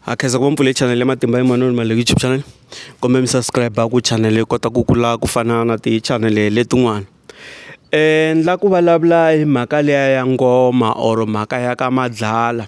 ha khensa ku va mpfule channel ya matimba ya manoni ma le youtube channel kumbe mi subscribe ku channel yi kota ku kula ku fana na ti channel letin'wana um la ku vulavula hi mhaka leya ya ngoma or mhaka ya ka madlala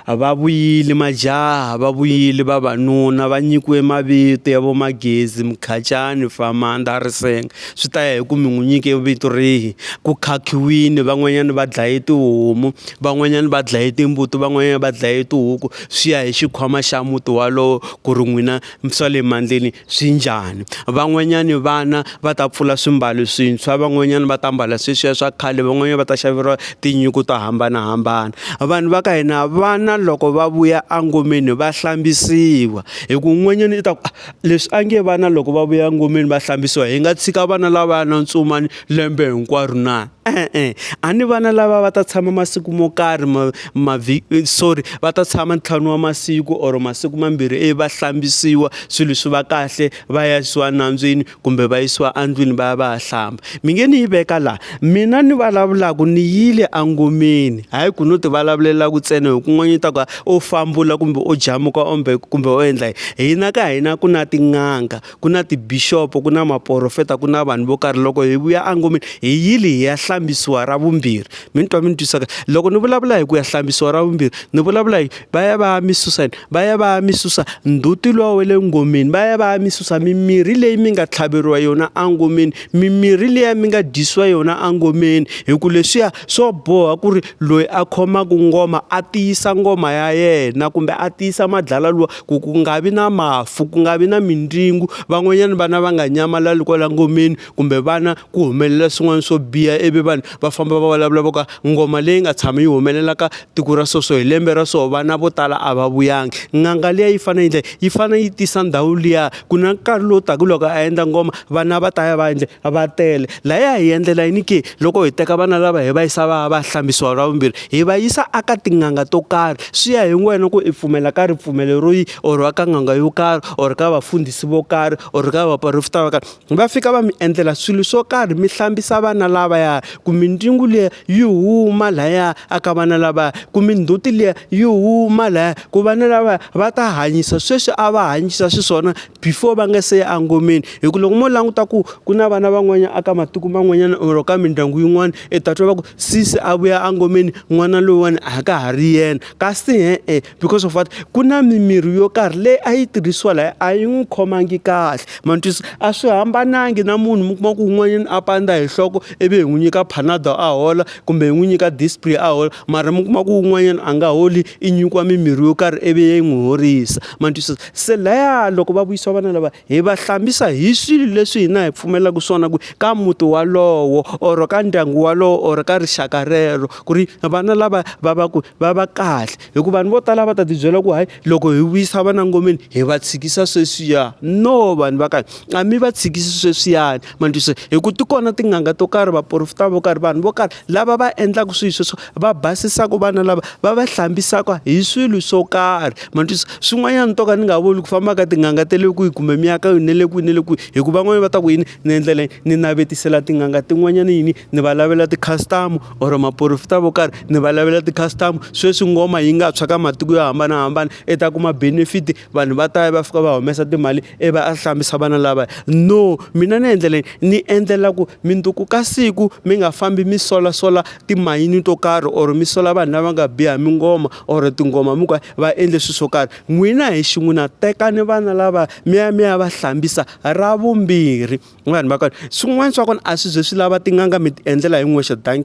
va vuyile majaha va vuyile vavanuna va nyikiwe mavito ya vo Magezi, Mukhacani, Famanda, Risenge. swi ta ya hi ku mi n'wi nyike vito rihi ku khakhiwini van'wanyana va dlaye tihomu van'wanyana va dlaye timbuti van'wanyana va dlaye tihuku swi ya hi xikhwama xa muti walowo ku ri n'wina swa le mandleni swi njhani van'wanyani vana va ta pfula swimbalo swintshwa van'wanyana va ta mbala sweswiya swa khale van'wanyana va ta xaveriwa tinyiko to hambanahambana vanhu va ka hina vana loko va vuya engomeni va hlambisiwa hi ku un'wanyana i ta ku Leswi a nge vana loko va vuya ngomeni va hlambisiwa hi nga tshika vana lava ya na ntsumani lembe hinkwaro na e-e a ni vana lava va ta tshama masiku mo karhi ma ma sorry va ta tshama ntlhanu wa masiku or masiku mambirhi ivi va hlambisiwa swilo swi va kahle va yisiwa nandzwini kumbe va yisiwa andlwini va ya va ya hlamba mi nge ni yi veka laha mina ni vulavulaka ni yile angomeni hayi ku no ti vulavulela ku tsena hi kun'wanyana ta ku u fambula kumbe u jamuka ombe kumbe u endla hina ka hina ku na tin'anga ku na tibixopo ku na maporofeta ku na vanhu vo karhi loko hi vuya angomeni hi yile hi ya hlambisiwa ra vumbirhi mi ni twa mi ni twisaka loko ni vulavula hi ku ya hlambisiwa ra vumbirhi ni vulavula hi va ya va ya mi susa yini va ya va ya mi susa ndzhuti lowa wa le ngomeni va ya va ya mi susa mimirhi leyi mi nga tlhaveriwa yona engomeni mimirhi liya mi nga dyisiwa yona engomeni hi ku leswiya swo boha ku ri loyi a khomaka ngoma a tiyisa ngoma ya yena kumbe a tiyisa madlala lowa ku ku nga vi na mafu ku nga vi na mindzingo van'wanyana vana va nga nyamalali kwala ngomeni. kumbe vana ku humelela swin'wana swo biha ivi vanhu va famba va vulavula vo ka ngoma leyi nga tshami yi humelela ka tiko ra so so hi lembe ra so vana vo tala a va vuyangi n'anga liya yi fanele yi endla yi fanele yi tisa ndhawu liya ku na nkarhi lowu taka loko a endla ngoma vana va ta ya va endle va tele laha ya hi endlela yini ke loko hi teka vana lava hi va yisa va ya va ya hlambisiwa ra vumbirhi hi va yisa a ka tin'anga to karhi swi ya hi wena ku i pfumela ka ripfumelo ro yi or ka n'anga yo karhi or ka vafundhisi vo karhi or ka vaporofeta vo karhi. va fika va mi endlela swilo swo karhi mi hlambisa vana lavaya ku mindzungu liya yi huma laya a ka vana lavaya ku mindzhuti liya yi huma laya ku vana lavaya va ta hanyisa sweswi a va hanyisa xiswona before va nga se ya engomeni hi ku loko mo languta ku ku na vana van'wanyana a ka matiko man'wanyana or ka mindyangu yin'wana i ta twa va ku sesi a vuya engomeni n'wana loyiwani a ka ha ri yena kasi e-e because of what ku na mimirhi yo karhi leyi a yi tirhisiwa laha a yi n'wi khomangi kahle ma ni twisisa a swi hambanangi na munhu mi kuma ku un'wanyana a pandza hi nhloko ivi hi n'wi nyika panado a hola kumbe hi n'wi nyika dispray a hola mara mi kuma ku un'wanyana a nga holi i nyikiwa mimirhi yo karhi ivi yi n'wi horisa ma ni twisisa se laya loko va vuyisiwa vana lava hi va hlambisa hi swilo leswi hina hi pfumelaka swona ku ka muti walowo or ka ndyangu walowo or ka rixaka rero ku ri vana lava va va ku va va kahle hikuva vanhu vo tala va ta tibyela ku hayi loko hi vuyisa vana ngomeni hi va tshikisa sweswiya no vanhu va kahle a mi va tshikisi sweswiyani mandiso hi ku ti kona tin'anga to karhi vaporofita vo karhi vanhu vo karhi lava va endlaka swilo sweswo va basisaka vana lava va va hlambisaka hi swilo swo karhi mandiso swin'wanyana to ka ni nga voni ku famba ka tin'anga ta le kwihi kumbe mi ya ka yona le kwihi na le kwihi hikuva van'wanyana va ta ku yini ni endlela ni navetisela tin'anga tin'wanyana yini. ni va lavela ti-customer or maporofita vo karhi ni va lavela ti-customer sweswi ngoma yi nga tshwa ka matiko yo hambanahambana i ta kuma benefit vanhu va ta ya va fika va humesa timali i va a hlambisa vana lavaya no mina ni endlela yini ni endlela ku mundzuku ka siku mi nga fambi mi solasola timayini to karhi or mi sola vanhu lava nga biha mi ngoma or tinghoma mi ku va endle swilo swo karhi n'wina hi xin'wina tekani vana lava mi ya mi ya va hlambisa ra vumbirhi. vanhu va kona swin'wana swa kona a swi ze swi lava tin'anga mi ti endlela hi n'wexe dankie.